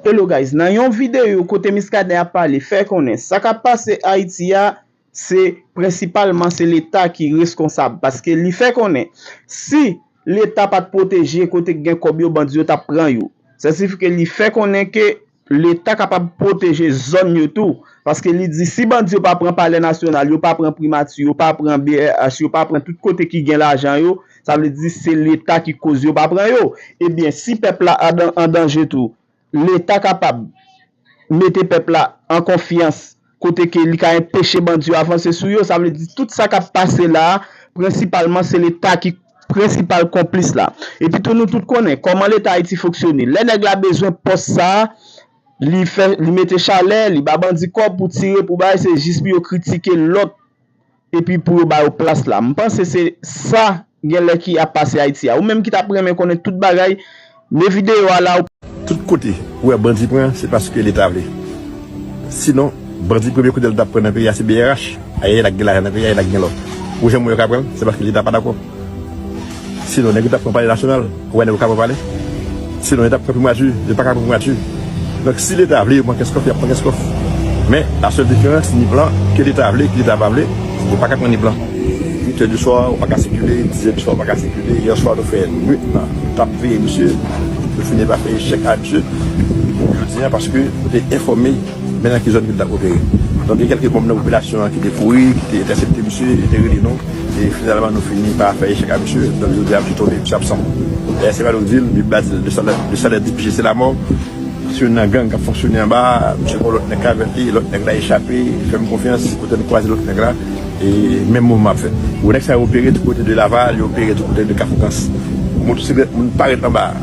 Hello guys nan yon video kote miskaden ap pale fè konnen sa kap pase ayiti a se prensipalman se leta ki reskonsab paske li fè konnen si leta pat pwoteje kote k gen kòb yo bandi yo tap pran yo sa sifi ke li fè konnen ke leta kapab pwoteje zòn yo tou paske li di si bandi yo pa pran palè nasyonal yo pa pran primati yo pa pran brh yo pa pran tout kote ki gen lajan yo Sa vle di se leta ki koz yo pa pran yo. Ebyen si pèp la an danje tou, leta kapab mete pèp la an konfyans kote ke li ka enpeche bandi yo avanse sou yo. Sa vle di tout sa kap pase la a, prensipalman se leta ki prensipal konplis la. Epi tou nou tout konnen kòman leta Ayiti fonksyone. Lè nèg la bezwen pòs sa a, li fè, li mete chalè, li ba bandi kòb pou tire, pou bay, se jis pou yo kritike lòt epi pou yo ba yo plas la m panse se sa genlè ki ap pase ayiti a ou menm ki tap renmen konnen tout bagay me videyo a la ou. Tout kote ou wè bandi pran se paske leta vle si non bandi premye kout el tap pran nan peyi a se brh ayayay lak gen lajan nan peyi a e lak gen lò ou wè janm wè yo ka pranl se paske leta pa dakò. Sinon nèg yo tap pran palè nasyonal, ou wè nèg yo ka pran palè? Sinon yo tap pran primati, yo paka pran primati. Donk si leta vle yo pran kès kòf, yap pran kès kòf. Men la sèl diferans ni plan ke leta vle, ke leta pa vle, yo paka pran ni plan. 8 è di swa ou paka sikile, 10 è di swa ou paka sikile, yè swa nou fè nwit lan tap veye misye, nou fini pa fè echèk a misye, jodia paske nou te enfòme. Men nan ki zòn ke li t ap opere. Donk gen kèlke manm nan popilasyon an ki te kouri, ki te entèsepte misye, yo te rele nou, e finalman nou fini pa fè echèk a misye. Donk jodi a misye tonbe, misye absan. Dayè se pa nou di l, bib la di l, le salè di peche se lamò. Se youn nan gang k ap fonksyone anba a, misye pran lòt nèg k avè l li, lòt nèg la echape, fè m konfyans, se kote nou kwaze lòt nèg la, e menm mouvman ap fèt. Gwo nèg sa yo opere tou kote de Laval, yo opere tou kote de Kafou Kans. Motosiklèt moun parèt anba a.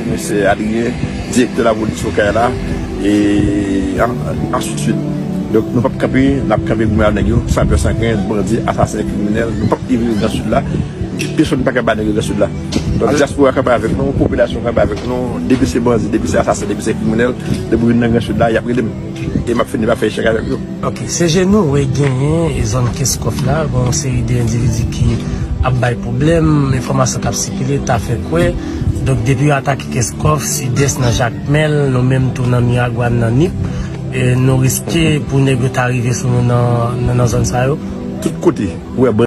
Komisè Adrien, direktè lapolis Okay la, e ansi de swit. Donk nou pap kanpe, n ap kanpe goumen ak nèg yo san pè san krent, bandi, asasen, kriminèl, nou pap livré gran Sid la, pèsòn pa ka ba nèg yo gran Sid la. Donk dyaspora kanpe avèk nou, popilasyon kanpe avèk nou, depi se bandi, depi se asasen, depi se kriminèl, depi yo vin nan gran Sid la, y ap rele m e m ap fini pa fè echèk avèk yo. Ok se je nou we genyen e zon keskòf la gen yon seri de endividi ki ap bay pwoblèm, enfòmasyon kap sikile ta fè kwè donk depi yo atake keskòf, sidès nan jakmèl nou menm tou nan miragwàn nan nip nou riske pou nèg yo ta rive sou nou nan zòn sa yo. Tout kote ou wè bandi.